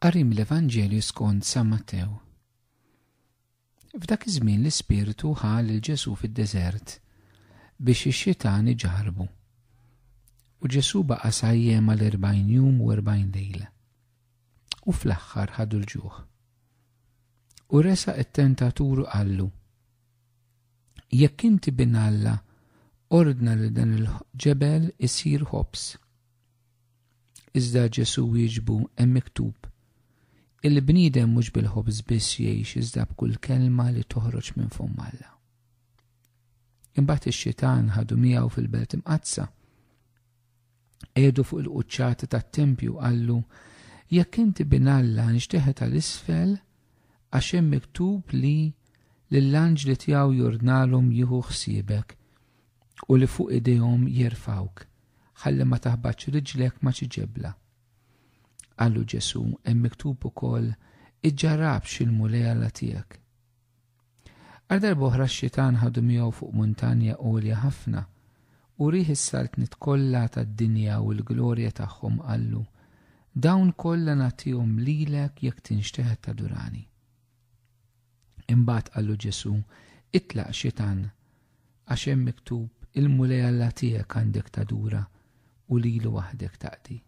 Qari mill-Evanġelju skont San Mattew. F'dak iż-żmien l-Ispirtu ħa lil Ġesù fid-deżert biex ix-xitan iġarbu. U Ġesù baqa' sajjem għal erbgħin jum u erbgħin lejla. U fl-aħħar ħadu l-ġuħ. U resa it-tentatur qallu, Jekk inti bin Alla, ordna li dan il-ġebel isir ħobs. Iżda Ġesu wieġbu hemm miktub, Il-bniedem mhux bil-ħobż biss jgħix iżda b'kull kelma li toħroġ minn fomm Alla. Imbagħad ix-xitan ħadu miegħu fil-belt imqaddsa. Edu fuq il-quċċata tat-tempju qallu, Jekk inti bin Alla nxteħet għal isfel għax hemm miktub li lill-anġli tiegħu jordnalhom jieħu ħsiebek u li fuq idejhom jerfgħuk, ħalli ma taħbatx riġlek ma' xi ġebla. Qallu Ġesù, Hemm miktub ukoll, 'Iġġarrabx il-Mulej Alla tiegħek. Għal darba oħra x-xitan ħadu miegħu fuq muntanja għolja ħafna u rih is-saltniet kollha tad-dinja u l-glorja tagħhom qallu, Dawn kollha nagħtihom lilek jekk tinxteħet tadurani. Imbagħad qallu Ġesù, Itlaq, Xitan, għax hemm miktub, 'Il-Mulej Alla tiegħek għandek tadura u lilu waħdek taqdi.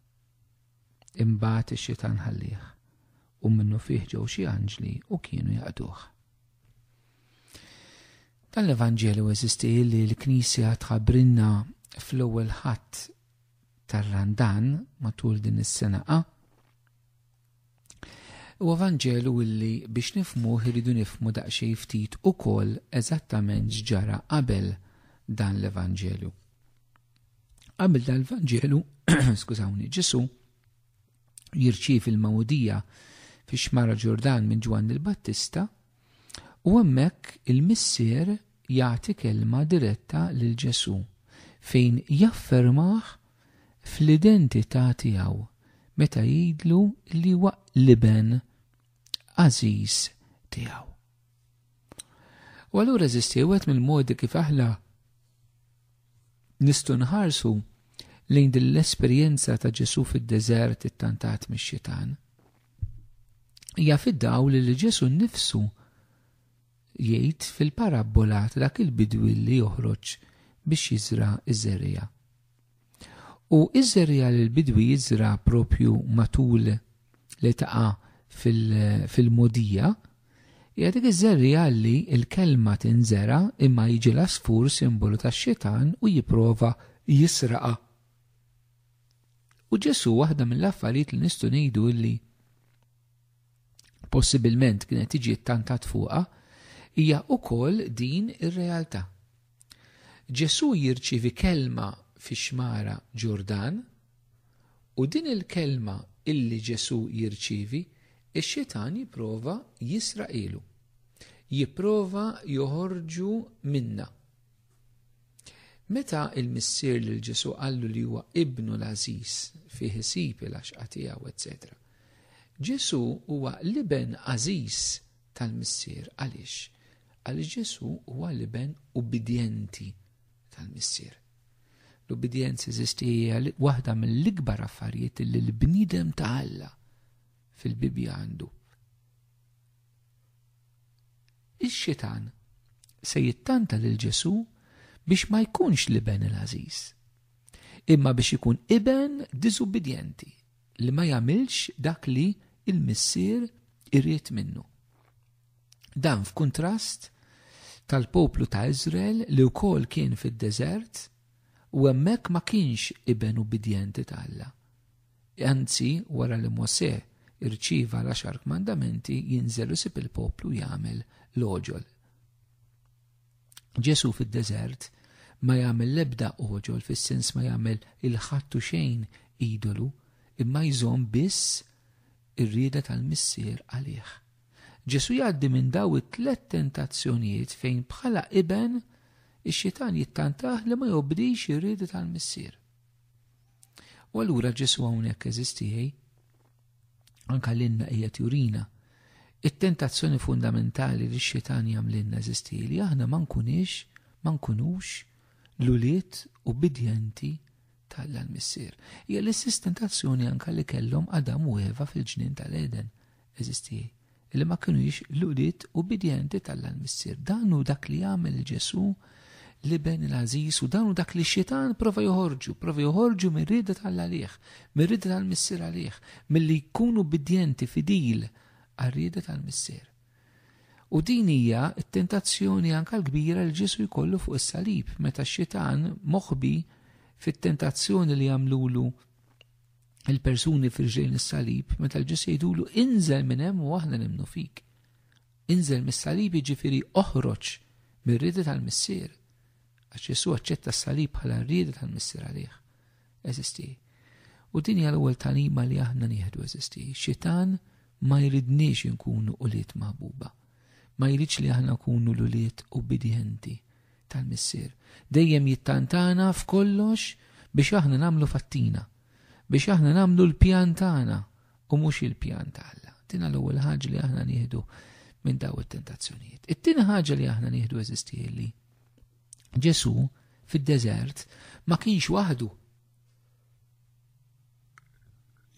Imbagħad ix-Xitan ħallieh, u minnufih ġew xi anġli u kienu jaqduh. Dan l-Evanġelju eżisti li l-Knisja tħabbrinna fl-ewwel ħadd tar-Randan matul din is-sena A Huwa Vanġelu illi biex nifhmuh irridu nifhmu daqsxejn ftit ukoll eżattament x'ġara qabel dan l-Evanġelju. Qabel dan l-Vanġelu, skużawni, Ġesù jirċievi l-magħmudija fix-xmara Ġordan minn Ġwanni l-Battista U hemmhekk il-Missier jagħti kelma diretta lil Ġesù fejn jaffermah fl-identità tiegħu meta jgħidlu li huwa l-Iben għażiż tiegħu. U allura eżisti wieħed mill-modi kif aħna nistgħu nħarsu lejn din l-esperjenza ta' Ġesù fid-deżert ittantat mix-xitan. Hija fid-dawl li Ġesu nnifsu jgħid fil-parabbola ta' dak il-bidwi li joħroġ biex jiżra' ż-żerriegħa. U ż-żerriegħa li l-bidwi jiżra' propju matul li taqa' fil-mogħdija hija dik iż-żerriegħa li l-kelma tinżera' imma jiġi l-għasfur simbolu tax-xitan u jipprova jisraqha. U Ġesù waħda mill-affarijiet li nistgħu ngħidu illi possibilment kienet tiġi ttantat fuqha hija wkoll din ir-realtà. Ġesù jirċievi kelma fix-xmara Ġordan u din il-kelma illi Ġesù jirċievi ix-xitan jipprova jisraqilu. Jipprova joħorġu minna. Meta il-missier lil Ġesu qallu li huwa ibnu l-għażiż fih isib il-għaxqa tiegħu, etc. Ġesu huwa l-iben għażiż tal-missier għaliex? Għaliex Ġesu huwa l-iben ubidjenti tal-missier. L-ubidjenza eżisti hija waħda mill-ikbar affarijiet li l-bniedem ta' Alla fil-Bibbja għandu. Ix-Xitan se jittanta lil Ġesù biex ma jkunx l-iben il-għażiż, imma biex ikun iben diżubbidjenti li ma jagħmilx dak li l-Missier irid minnu. Dan f'kuntrast tal-poplu ta' Iżrael li wkoll kien fid-deżert u hemmhekk ma kienx iben ubbidjenti ta' Alla. Anzi, wara li Mosè rċieva l-Għaxar Kmandamenti, jinżel u jsib il-poplu jagħmel l-għoġol. Ġesù fid-deżert ma jagħmel l-ebda għoġol fis-sens ma jagħmel il-ħattu xejn idolu, imma jżomm biss ir-rieda tal-Missier għalih. Ġesù jgħaddi minn daw it-tliet tentazzjonijiet fejn bħala iben ix-xitan jittantah li ma jobdix ir-rieda tal-Missier. U allura Ġesu hawnhekk eżistijej, anka l-inna qiegħed jurina. It-tentazzjoni fundamentali li x-xitan jagħmlilna eżistijej li aħna ma nkunix, ma nkunux l-ulied ubbidjenti tal-missier. Hija l-istess tentazzjoni anka li kellhom Adam u Eva fil-ġnien tal-Eden. eżisti, li ma kinux l-ulied ubbidjenti tal missier Dan hu dak li jagħmel Ġesu l-iben il-għażiż u dan hu dak li xitan prova joħorġu, prova joħorġu mir-rieda tal-għalih, mir-rieda tal-missier għalih, milli jkunu ubbidjenti fidil għar-rieda tal-missier. U din hija t-tentazzjoni anka l-kbira li Ġesu jkollu fuq is-salib meta x-xitan moħbi fit-tentazzjoni li jagħmlulu il-persuni firġejn is-salib meta l-ġus jgħidulu inżel minn hemm u aħna nimnu fik. Inżel mis-salib jiġifieri oħroġ mir-rieda tal-missier. Għax Ġesu aċċetta s-salib bħala r-rieda tal-missier għalih. Eżisti. U din hija l-ewwel talima li aħna nieħdu eżisti. Xitan ma jridniex inkunu ulied maħbuba. Ma jridx li aħna nkunu l-ulied ubbidjenti. tal-Missier. Dejjem jittantana f'kollox biex aħna nagħmlu fattina, biex aħna nagħmlu l-pjan tagħna u mhux il-pjan ta' Alla. Din l-ewwel ħaġa li aħna nieħdu minn daw it-tentazzjonijiet. It-tieni ħaġa li aħna nieħdu eżistieli. Ġesu fid-deżert ma kienx waħdu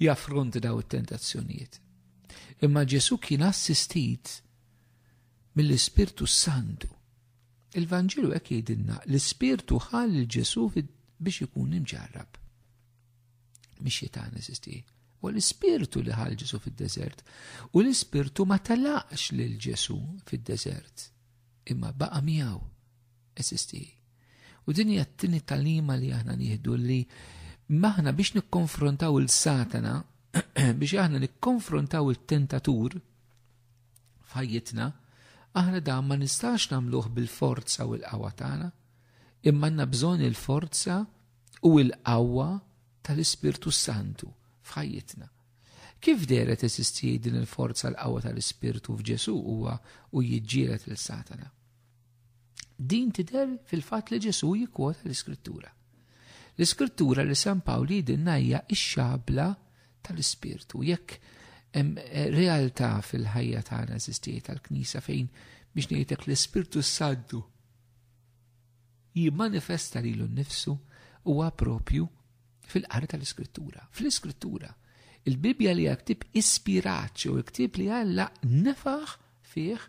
jaffront daw it-tentazzjonijiet. Imma Ġesu kien assistit mill-Ispirtu Santu Il-Vanġelu hekk jgħidilna l-Ispirtu ħa lil Ġesù biex ikun imġarrab. Mhix xitan eżisti. U l-Ispirtu li ħal Ġesù fid-deżert. U l-Ispirtu ma telaqx lil Ġesù fid-deżert. Imma baqa' miegħu eżisti. U din hija t-tieni talima li aħna nieħdu li maħna biex nikkonfrontaw il-Satana, biex aħna nikkonfrontaw il-tentatur, f'ħajjitna, aħna dan ma nistax nagħmluh bil-forza u l-qawwa tagħna, imma għandna bżonn il-forza u l-qawwa tal-Ispirtu Santu f'ħajjitna. Kif deret esisti din il-forza l-qawwa tal-Ispirtu f'Ġesu huwa u jiġġielet lil Satana? Din tidher fil-fatt li Ġesù jikkwota l-Iskrittura. L-Iskrittura li San Pawl jidinna hija x-xabla tal-Ispirtu. Jekk hemm eh, realtà fil-ħajja tagħna eżistijiet tal-Knisja fejn biex ngħidlek l-Ispirtu Santu jimmanifesta lilu nnifsu huwa propju fil-qari tal-Iskrittura. Fl-Iskrittura, il-Bibja li hija ktib ispirat jew ktib li Alla nefaħ fih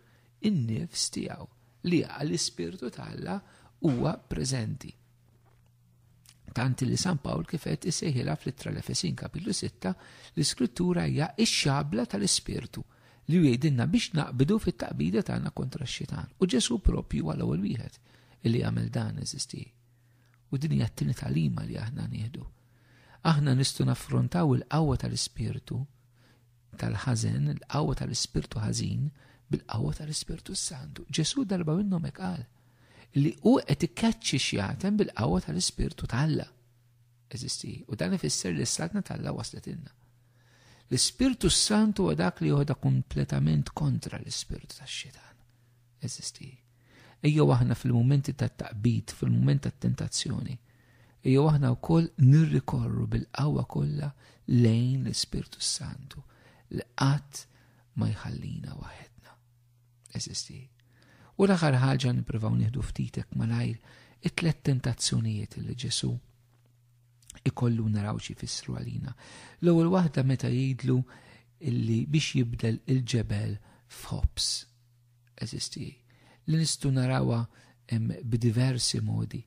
in-nifs tiegħu li għall-Ispirtu ta' Alla huwa preżenti. Tant li San Pawl kif qed isejħilha fl-ittra l-Efesin kapitlu 6 l-iskrittura hija x-xabla tal-Ispirtu li jgħidilna biex naqbdu fit-taqbida tagħna kontra x-xitan. U Ġesu propju għal ewwel wieħed illi jagħmel dan eżisti. U din hija t-tieni talima li aħna nieħdu. Aħna nistgħu naffrontaw il-qawwa tal-ispirtu tal-ħażen, l-qawwa tal-ispirtu ħażin, bil-qawwa tal-ispirtu santu. Ġesu darba minnhom hekk qal li hu qed ikkaċċi xjatem bil-qawwa tal-ispirtu tal-Alla. Eżisti, u dan ifisser li s-saltna tal-Alla waslet inna. L-ispirtu santu huwa dak li joħda kompletament kontra l-ispirtu tax-xitan. Eżisti. Ejjew aħna fil-mumenti tat-taqbid, fil-mument tat-tentazzjoni, ejjew aħna wkoll nirrikorru bil-qawwa kollha lejn l-Ispirtu s-Santu li qatt ma jħallina waħedna. Eżisti. U l-aħħar ħaġa nippruvaw nieħdu ftitek malajr it-tlet tentazzjonijiet li Ġesu' ikollu naraw xi fissru għalina. L-ewwel waħda meta jgħidlu illi biex jibdel il-ġebel f'ħobs. Eżis tiegħi, li nistgħu narawha b'diversi modi.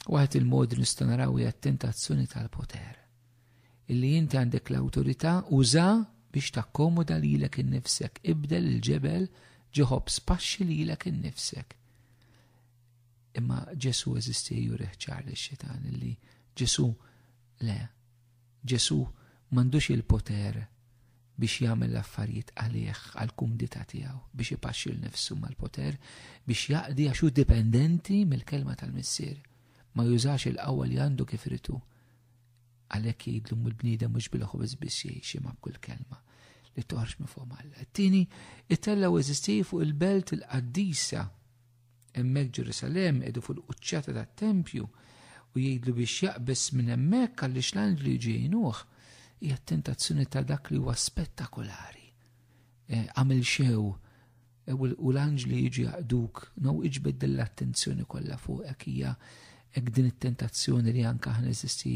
Waħed il-modi nistgħu naraw hija t-tentazzjoni tal-poter. Illi inti għandek l-awtorità uża biex takkomoda lilek innifsek, ibdel il-ġebel ġiħob spaxxi lilek innifsek. Imma Ġesu eżisti jurih ċar li xitan illi Ġesu le Ġesù m'għandux il-poter biex jagħmel l-affarijiet għalih, għall-kumdità tiegħu, biex ipaxxi 'l nifsu mal-poter biex jaqdi għax hu dipendenti mill-kelma tal-Missier. Ma jużax il-qawwa li għandu kif irid hu. Għalhekk jgħidlu mill-bniedem mhux bil-ħobż biss jgħix imma b'kull kelma li toħroġ minn fuq Alla. It-tieni, it-tella eżisti fuq il-belt il-qaddisa Hemmhekk Ġerusalem qegħdu fuq il-quċċata tat-tempju u jgħidlu biex jaqbes minn hemmhekk għaliex l-anġli ġejnuh hija tentazzjoni ta' dak li huwa spettakolari. E, għamil xew e, u l-anġli jiġi jaqduk, no iġbed l-attenzjoni kollha fuqek hija hekk din it-tentazzjoni li anke aħna eżisti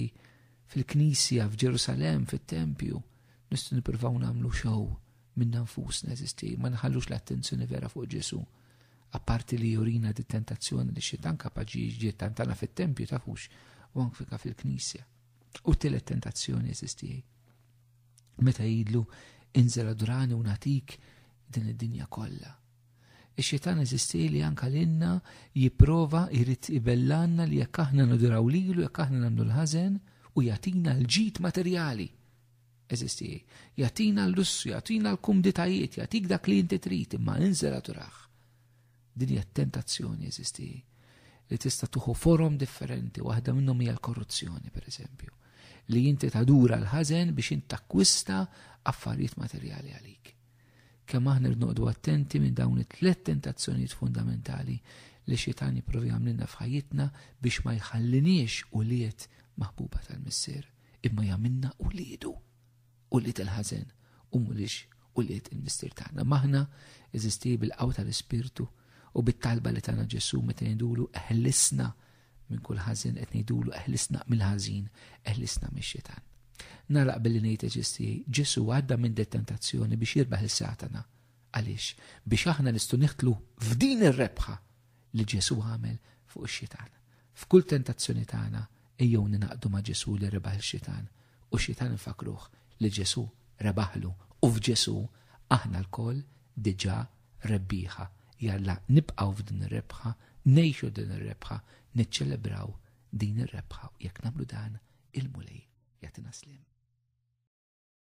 fil-Knisja f'Ġerusalem fit-tempju nistgħu nippruvaw nagħmlu xew minna nfusna eżisti, ma nħallux l-attenzjoni vera fuq Ġesu. Apparti li jurina di tentazzjoni li xitan kapaġi ġiet tantana fit-tempju tafux u anfika fil-knisja. U telet tentazzjoni eżisti. Meta jidlu inżel adurani u natik din id-dinja kollha. Ix-xitan eżisti li anka l-inna jiprova jrid ibellanna li jekk aħna naduraw lilu, jekk aħna nagħmlu l-ħażen u jatina l-ġid materjali. Eżisti, jagħtina l-lussu, jagħtina l-kumditajiet, jagħtik dak li inti trid imma inżela turaħ. Din hija tentazzjoni eżisti li tista' tuħu forom differenti, waħda minnhom hija l-korruzzjoni pereżempju, li inti tadura l-ħażen biex int takkwista affarijiet materjali għalik. Kemm aħna rnoqdu attenti minn dawn it-tlet tentazzjonijiet fundamentali li xitan jipprovi għamlinna f'ħajjitna biex ma jħalliniex u liet maħbuba tal-missier. imma jagħmilna uliedu, ulied il-ħażen u mhux ulied il-Mistier tagħna. Maħna eżisti bil-qawwa tal-Ispirtu u bit-talba li tagħna Ġesu meta ngħidulu eħlisna minn kull ħażin qed ngħidulu eħlisna mill-ħażin, eħlisna mix-xitan. Nalaq billi ngħid eġisti, Ġesu għadda minn detentazzjoni biex jirbaħ is-Satana. Għaliex? Biex aħna nistgħu niħtlu f'din ir-rebħa li Ġesù għamel fuq ix-xitan. F'kull tentazzjoni tagħna, ejjew ningħaqdu ma' Ġesù li rebaħ ix-xitan, u x-xitan infakkruh li Ġesù rebaħlu, u f'Ġesù aħna lkoll diġà rebbieħa. Jalla nibqgħu f'din ir-rebħa, ngħixu din ir-rebħa, niċċelebraw din ir-rebħa, u jekk nagħmlu dan, il-Mulej jagħtina sliem.